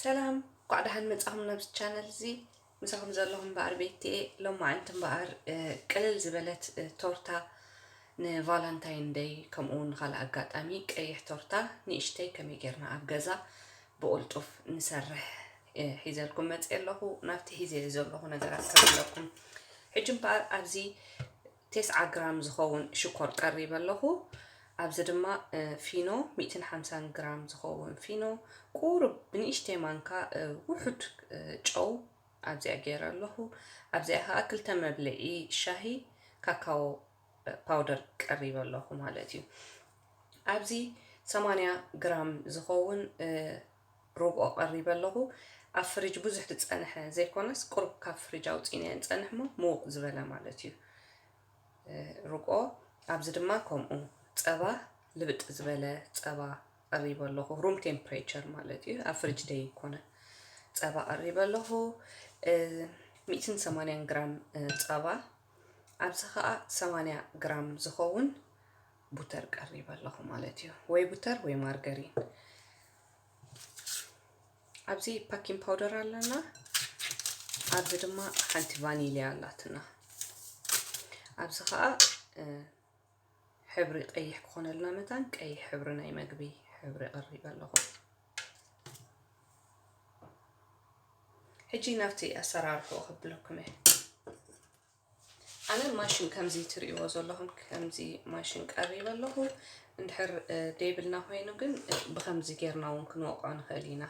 ሰላም እንኳዕ ደሓን መጻኹም ናብዚ ቻነል እዚ ምሳኹም ዘለኹም እምበኣር ቤትኤ ሎማዓንቲ እምበኣር ቅልል ዝበለት ቶርታ ንቫላንታይን ደይ ከምኡ እውን ንካልእ ኣጋጣሚ ቀይሕ ቶርታ ንእሽተይ ከመይ ጌርና ኣብ ገዛ ብቕልጡፍ ንሰርሕ ሒዘልኩም መፅእ ኣለኹ ናብቲ ሒዘ ዘለኹ ነገራት ከብለኩም ሕጂ እምበኣር ኣብዚ ቴስዓ ግራም ዝኸውን ሽኮር ቀሪበ ኣለኹ። ኣብዚ ድማ ፊኖ ሚእትን ሓምሳን ግራም ዝኸውን ፊኖ ቁሩብ ብንእሽተይ ማንካ ውሑድ ጨው ኣብዚኣ ገይረ ኣለኹ። ኣብዚኣ ከኣ ክልተ መብልዒ ሻሂ ካካዎ ፓውደር ቀሪበ ኣለኹ ማለት እዩ። ኣብዚ ሰማንያ ግራም ዝኸውን ርብኦ ቀሪበ ኣለኹ ኣብ ፍርጅ ብዙሕ ትጸነሐ ዘይኮነስ ቁሩብ ካብ ፍርጅ ኣውጺእናዮ ንጸንሕ እሞ ምውቕ ዝበለ ማለት እዩ ርብኦ ኣብዚ ድማ ከምኡ ጸባ ልብጥ ዝበለ ጸባ ቀሪበ ኣለኹ ሩም ቴምፕሬቸር ማለት እዩ ኣብ ፍርጅ ዘይኮነ ጸባ ቀሪበ ኣለኹ ሚእትን ሰማንያን ግራም ጸባ ኣብዚ ኸኣ ሰማንያ ግራም ዝኸውን ቡተር ቀሪበ ኣለኹ ማለት እዩ ወይ ቡተር ወይ ማርገሪን ኣብዚ ፓኪን ፓውደር ኣለና ኣብዚ ድማ ሓንቲ ቫኒልያ ኣላትና ኣብዚ ከዓ ሕብሪ ቀይሕ ክኾነልና መታን ቀይሕ ሕብሪ ናይ መግቢ ሕብሪ ቀሪበ ኣለኹ ሕጂ ናብቲ ኣሰራርሑ ክብለኩም እየ ኣነ ማሽን ከምዚ ትርእይዎ ዘለኹም ከምዚ ማሽን ቀሪበ ኣለኹ እንድሕር ደይብልና ኮይኑ ግን ብከምዚ ጌርና እውን ክንወቕዖ ንኽእል ኢና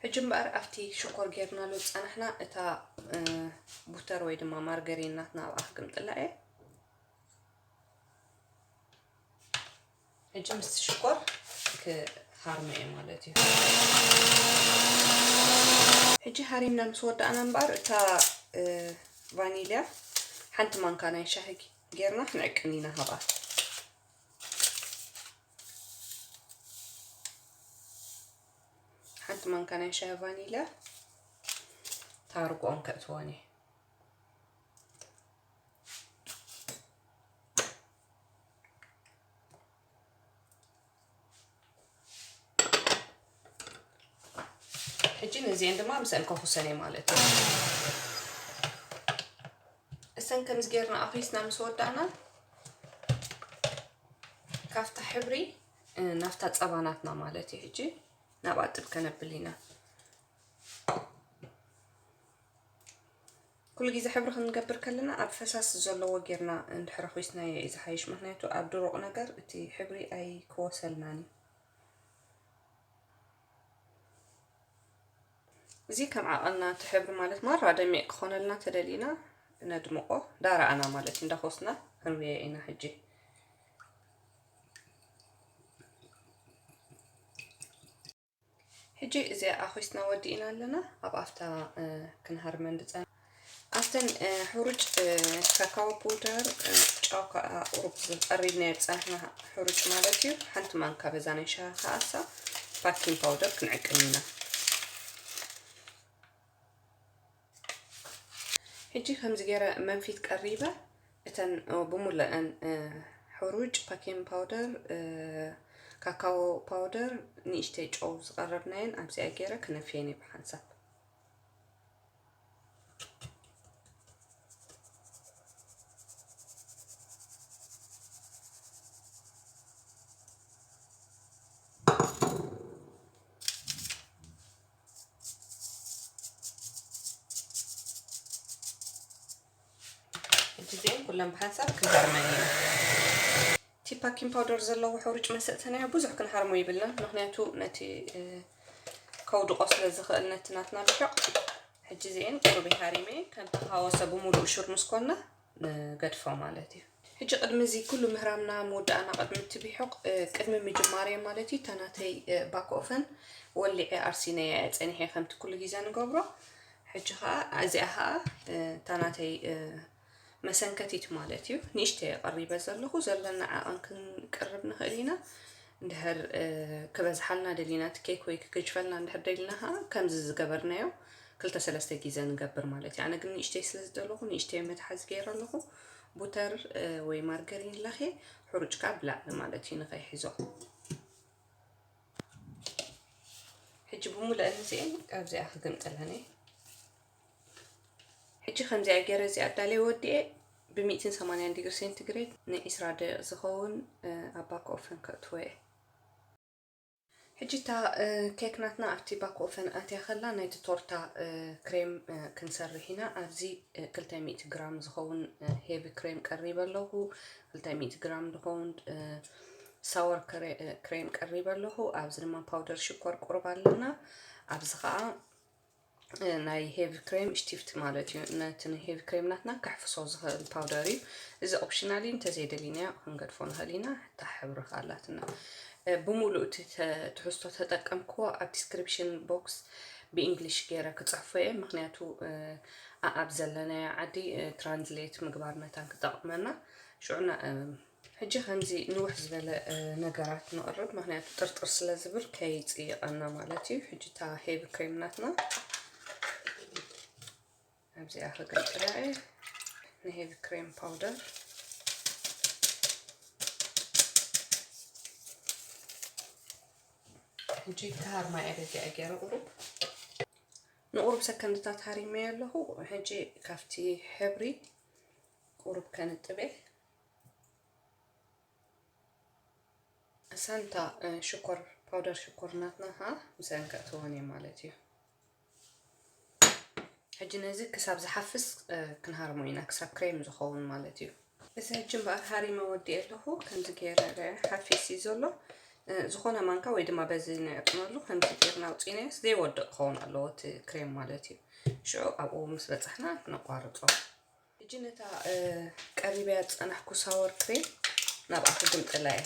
ሕጂ እምበኣር ኣብቲ ሽኮር ጌርናሉ ዝፀናሕና እታ ቡተር ወይ ድማ ማርገሪን ናትና ኣብኣ ክግምጥላ እየ ሕጂ ምስቲ ሽኮር ክሃርሞ እየ ማለት እዩ ሕጂ ሃሪምና ምስ ወዳእና እምበኣር እታ ቫኒልያ ሓንቲ ማንካ ናይ ሻሂ ጌርና ክንዕቅን ኢና ሃብኣ ሓንቲ ማንካ ናይ ሻሂ ቫኒልያ ታርጎኦም ከእትወን እየ ሕጂ ንዚኤን ድማ ምስአን ከኹሰን እየ ማለት እዩ እሰን ከምዚ ጌርና ኣፍሪስና ምስ ወዳእና ካብታ ሕብሪ ናብታ ፀባናትና ማለት እዩ ሕጂ ናብ ኣጥብ ከነብል ኢና ኩሉ ግዜ ሕብሪ ክንገብር ከለና ኣብ ፈሳሲ ዘለዎ ጌርና እንድሕር ኹስናዮ እዩ ዝሓይሽ ምክንያቱ ኣብ ድሩቅ ነገር እቲ ሕብሪ ኣይክወሰልናን እዩ። እዚ ከም ዓቀንና እቲ ሕብሪ ማለት ማራ ደሚቅ ክኾነልና ተደሊና ነድምቆ ዳራኣና ማለት እዩ እንዳኾስና ክንሪኦ ኢና ሕጂ ሕጂ እዚኣ ኣኺስና ወዲእና ኣለና ኣብ ኣፍታ ክንሃርመን ድፀና ኣብተን ሕሩጭ ካካዎ ፑደር ጫው ከዓ ቁሩብ ዝቀሪብናዮ ዝፀናሕና ሕሩጭ ማለት እዩ ሓንቲ ማንካ በዛ ናይ ሻሂ ከዓሳ ባኪንግ ፓውደር ክንዕቅን ኢና ሕጂ ከምዚ ገይረ መንፊት ቀሪበ እተን ብሙለእን ሕሩጭ ፓኪን ፓውደር ካካዎ ፓውደር ንእሽተይ ጨው ዝቐረብናየን ኣብዚኣ ገይረ ክነፍየን እየ ብሓንሳብ እዚኦም ኩሎም ብሓንሳብ ክንሃርመን ኢና እቲ ፓኪን ፓውደር ዘለዎ ሕሩጭ መሰጥተናዮ ብዙሕ ክንሃርሞ ይብልና ምክንያቱ ነቲ ከውድቆ ስለ ዝኽእል ነቲ ናትና ልሕቕ ሕጂ እዚአን ቁሩብ ሃሪመ ከም ተሃወሰ ብምሉእ ሹር ምስ ኮና ንገድፎ ማለት እዩ። ሕጂ ቅድሚ እዚ ኩሉ ምህራምና ምውዳእና ቅድሚ እቲ ቢሑቕ ቅድሚ ምጅማረይ ማለት እዩ እታ ናተይ ባክ ኦፈን ወሊዐ ኣርሲነያ እየ ጸኒሐ ከምቲ ኩሉ ግዜ ንገብሮ ሕጂ ከኣ እዚኣ ከኣ እታ ናተይ መሰንከቲት ማለት እዩ ንእሽተይ የቐሪበ ዘለኹ ዘለና ዓቐን ክንቅርብ ንኽእል ኢና እንድሕር ክበዝሓልና ደሊና እቲ ኬክ ወይ ክገጅፈልና እንድሕር ደሊና ከኣ ከምዚ ዝገበርናዮ ክልተ ሰለስተ ግዜ ንገብር ማለት እዩ ኣነ ግን ንእሽተይ ስለ ዝደለኹ ንእሽተይ መትሓዚ ገይረ ኣለኹ ቡተር ወይ ማርገሪን ለኸ ሕሩጭ ከዓ ብላዕሊ ማለት እዩ ንኸይሕዞ ሕጂ ብሙልአን እዚአን ኣብዚኣ ክግምጥለን እየ ሕጂ ከምዚኣ ገይረ እዚኣ ኣዳለየ ወዲኤ ብሚእትን ሰማንያን ዲግሪ ሴንቲግሬድ ንዒስራ ደቂቕ ዝኸውን ኣብ ባክ ኦፈን ከእትወ እየ ሕጂ እታ ኬክ ናትና ኣብቲ ባክኦፈን ኣትያ ከላ ናይቲ ቶርታ ክሬም ክንሰርሕ ኢና። ኣብዚ ክልተ ሚእቲ ግራም ዝኸውን ሄቪ ክሬም ቀሪበ ኣለኹ። ክልተ ሚእቲ ግራም ዝኸውን ሳወር ክሬም ቀሪበ ኣለኹ። ኣብዚ ድማ ፓውደር ሽኮር ቁሩብ ኣለና። ኣብዚ ከኣ ናይ ሄቪ ክሬም ሽቲፍቲ ማለት እዩ ነቲ ንሄቪ ክሬም ናትና ከሕፍሶ ዝኽእል ፓውደር እዩ እዚ ኦፕሽናል እዩ እንተዘይደሊና ክንገድፎ ንኽእል ኢና እታ ሕብሪ ካላትና ብምሉእ እቲ ትሕዝቶ ተጠቀምክዎ ኣብ ዲስክሪፕሽን ቦክስ ብእንግሊሽ ገይረ ክፅሕፎ እየ ምክንያቱ ኣብ ዘለናዮ ዓዲ ትራንስሌት ምግባር መታን ክጠቕመና ሽዑና ሕጂ ከምዚ ንውሕ ዝበለ ነገራት ነቕርብ ምክንያቱ ጥርጥር ስለ ዝብል ከይጽይቐና ማለት እዩ። ሕጂ እታ ሄቢ ክሬም ናትና ኣብዚኣ ከገልግላ እየ ንሄቢ ክሬም ፓውደር ሕጂ ተሃር ማይ ኣደጊ ኣገረ ቁሩብ ንቑሩብ ሰከንድታት ሃሪመዮ ኣለኹ ሕጂ ካብቲ ሕብሪ ቁሩብ ከንጥበ እሰን እታ ሽኮር ፓውደር ሽኮር ናትና ከዓ ምስአን ከእትወን እየ ማለት እዩ ሕጂ ነዚ ክሳብ ዝሓፍስ ክንሃርሞ ኢና ክሳብ ክሬም ዝኸውን ማለት እዩ እዚ ሕጂ እምበኣር ሃሪመ ወዲእ ኣለኹ ከምዚ ገይረ ሓፊስ እዩ ዘሎ ዝኾነ ማንካ ወይ ድማ በዚ ነዕጥመሉ ከምዚ ገይርና ውፅኢናዮስ ዘይወድቕ ክኸውን ኣለዎ እቲ ክሬም ማለት እዩ ሽዑ ኣብኡ ምስ በፃሕና ክነቋርፆ ሕጂ ነታ ቀሪበያ ዝጸናሕኩ ሳወር ክሬም ናብኣ ክግምጥላ እየ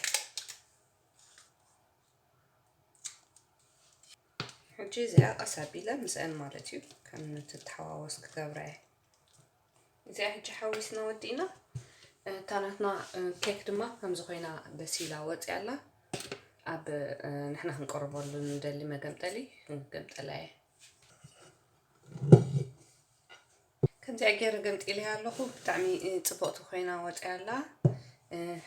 ሕጂ እዚኣ ቀስ ኣቢለ ምስአን ማለት እዩ ከም እትተሓዋወስ ክገብራ እየ እዚኣ ሕጂ ሓዊስና ወዲእና እታ ናትና ኬክ ድማ ከምዚ ኮይና በሲላ ወፅያ ኣላ ኣብ ንሕና ክንቀርበሉ ንደሊ መገምጠሊ ክንገምጠላ እየ ከምዚኣ ጌረ ገምጢለያ ኣለኹ ብጣዕሚ ጽብቕቲ ኮይና ወጺኣ ኣላ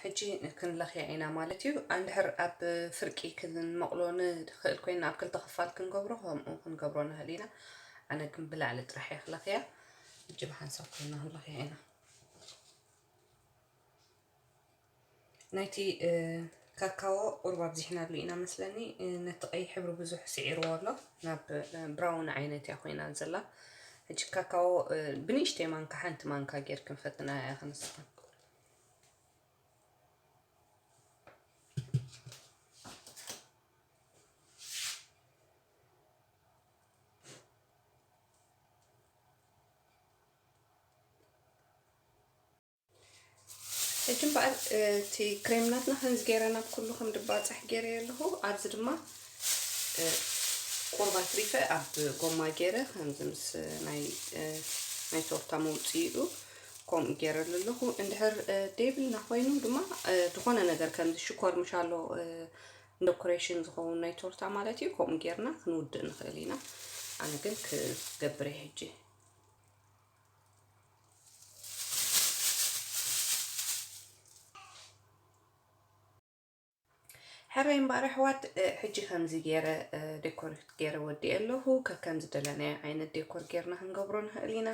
ሕጂ ክንለኽያ ኢና ማለት እዩ ኣንድሕር ኣብ ፍርቂ ክንመቕሎ ንኽእል ኮይና ኣብ ክልተ ክፋል ክንገብሮ ከምኡ ክንገብሮ ንኽእል ኢና ኣነ ግን ብላዕሊ ጥራሕ እየ ክለኽያ ሕጂ ብሓንሳብ ኮይና ክንለኽያ ኢና ናይቲ ካካዎ ቁሩብ ኣብዚሕናሉ ኢና መስለኒ ነቲ ቀይሕ ሕብሪ ብዙሕ ስዒርዎ ኣሎ ናብ ብራውን ዓይነት እያ ኮይና ዘላ ሕጂ ካካዎ ብንእሽተይ ማንካ ሓንቲ ማንካ ጌር ክንፈትና እያ ክንስኻ ሕጂ እምበኣር እቲ ክሬምናትና ከምዚ ገይረ ናብ ኩሉ ከም ድባፅሕ ገይረ ኣለኹ ኣብዚ ድማ ቁርባ ትሪፈ ኣብ ጎማ ገይረ ከምዚ ምስ ናይ ናይ ቶርታ መውፅኢኡ ከምኡ ገይረሉ ኣለኹ እንድሕር ደይብልና ኮይኑ ድማ ዝኾነ ነገር ከምዚ ሽኮር ምሻሎ ዶኮሬሽን ዝኸውን ናይ ቶርታ ማለት እዩ ከምኡ ገይርና ክንውድእ ንኽእል ኢና ኣነ ግን ክገብረ ሕጂ ሕረይ እምበኣር ኣሕዋት ሕጂ ከምዚ ገይረ ዴኮር ገይረ ወዲኤ ኣለኹ ከከም ዝደለናዮ ዓይነት ዴኮር ገይርና ክንገብሮ ንኽእል ኢና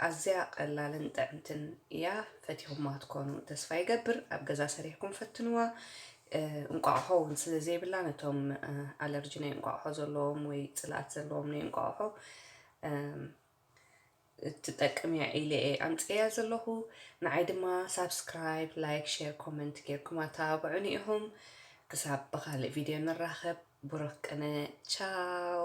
ኣዝያ ቀላልን ጥዕምትን እያ ፈቲኹማ ትኮኑ ተስፋ ይገብር ኣብ ገዛ ሰሪሕኩም ፈትንዋ እንቋቑሖ እውን ስለ ዘይብላ ነቶም ኣለርጂ ናይ እንቋቑሖ ዘለዎም ወይ ፅልኣት ዘለዎም ናይ እንቋቑሖ እም ትጠቅም እያ ኢለ እየ ኣምፂኤያ ዘለኹ ንዓይ ድማ ሳብስክራይብ ላይክ ሼር ኮመንት ጌርኩም ኣተባብዑኒ ኢኹም ክሳብ ብኻልእ ቪድዮ ንራኸብ ብሩኽ ቅነ ቻው